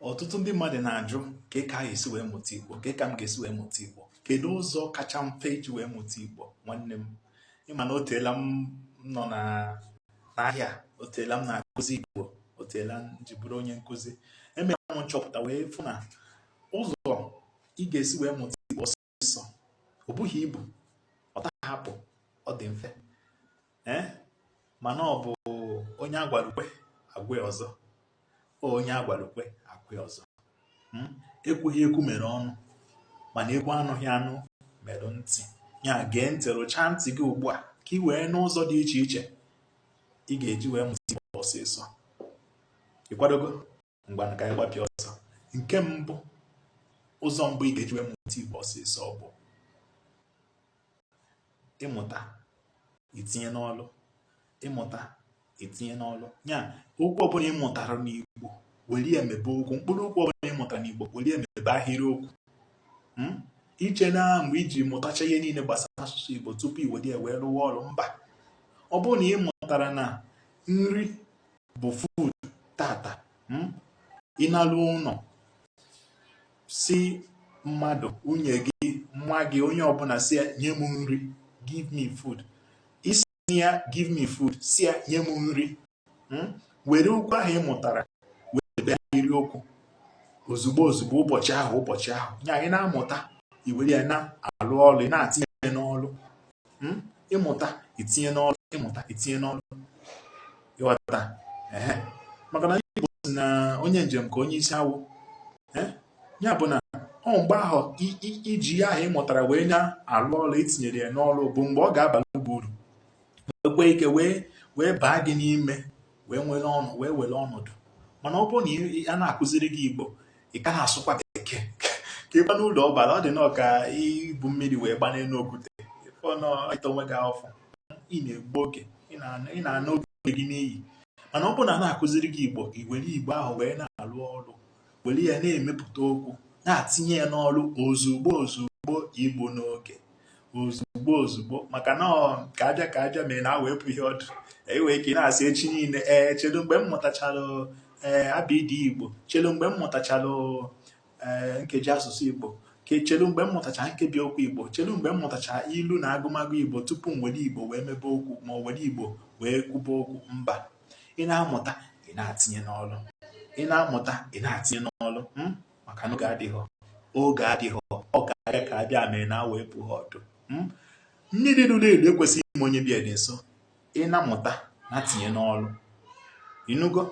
ọtụtụ ndị mmadụ na-ajụ kee ka a ga-esi wee mụta igbo kee ka m ga-esi wee mụta igbo kedu ụzọ kacha mfe iji wee mụta igbo nwanne m ị ma na oteela m nọ n'ahịa oteela m na-akụzi igbo oteela m ji bụrụ onye nkụzi emere m nchọpụta wee fụ na ụzọ ị ga-esi wee mụta igbo nsọ o bughị ibu ọ tahọ akpụ ọ dị mfe ee mana ọ bụ onye a gwalụ kwe a gwa ya ọzọ onye a gwalụ kwe a gwa ya ọzọ hmm? ekwughị ekwu mere ọnụ mana e kwuo anụghị anụ mere ntị ya gee ntị rụchaa ntị gị ugbu a ka ị wee nụ ụzọ dị iche iche ị ga-eji wee mụta igbo ọsịsọ ị kwadogo ngwa ka anyị gbapịa ọsọ nke mbụ ụzọ mbụ ị ga-eji wee mụta igbo ọsịsọ bụ ị mụta i tinye n'ọlụ ị mụta i tinye n'ọlụ ya okwu ọbụla ị mụtara n'igbo were ya mebe okwu mkpụrụ okwu ọbụla ị mụtara n'igbo were ya mebe ahịrịokwu hmm? i che na mgbe i ji mụtacha ihe niile gbasara asụsụ igbo tupu i were ya wee rụwa ọrụ mba ọ bụrụ na ị mụtara na nri bụ food tata hmm? ị naluo ụlọ sị mmadụ nwunye gị nwa gị onye ọbụla sị ya nye m nri give me food ị sị ya give me food sị ya nye m nri hmm? were okwu ahụ ị mụtara wee mebe ahịrịokwu ozugbo ozugbo ụbọchị ahụ ụbọchị ahụ nya ị na-amụta i were ya na-alụ ọlụ ị na-atinye n'ọlụ hmm? ị mụta i tinye n'ọrụ ị mụta i tinye n'ọrụ ị ghọta maka na Igbo sị na onye njem ka onye isi awọ ya bụ na ọ mgbe ahụ i ji ihe ahụ ị mụtara wee na-alụ ọrụ i tinyere ya n'ọrụ bụ mgbe ọ ga-abara gị uru nwee ike wee baa gị n'ime wee were ọnọ wee were ọnọdụ mana ọ bụrụ na a na-akụziri gị igbo ị ka na-asụkwa bekee ka ịgba n'ụlọ ọbara ọ dị nnọọ ka ibu mmiri wee gbanye n'elu okwute ị na-ata onwe gị afụfụ ị na-egbu oge ị na-ana oge gị n'iyi mana ọ bụrụ na a na-akụziri gị igbo i were igbo ahụ wee na-alụ ọrụ were ya na-emepụta okwu na-atinye ya n'ọrụ ozugbo ozugbo egbuna oge ozugbo ozugbo maka na ka a bịa ka a bịa mere na awọ epughị ọdụ e nwere ike na-asị echi niile ee chelu mgbe m mụtachara ee abịdị igbo chelu mgbe m mụtachara ee nkeji asụsụ igbo chelu mgbe m mụtacha nkebi okwu igbo chelu mgbe m mụtacha ilu na agụmagụ igbo tupu m were igbo wee mebe okwu m were igbo wee kwube okwu mba ị na-amụta ị na-atinye n'ọlụ ị na-amụta ị na-atinye n'ọlụ hmm? maka na oge adịhọ oge adịhọ ọ ka a bịa ka a bịa mere na awọ epuhọ ọdụ hmm? mmiri ruru eru ekwesịghị ịma onye be ya dị nso ị na-amụta na-atinye n'ọlụ ị nụgo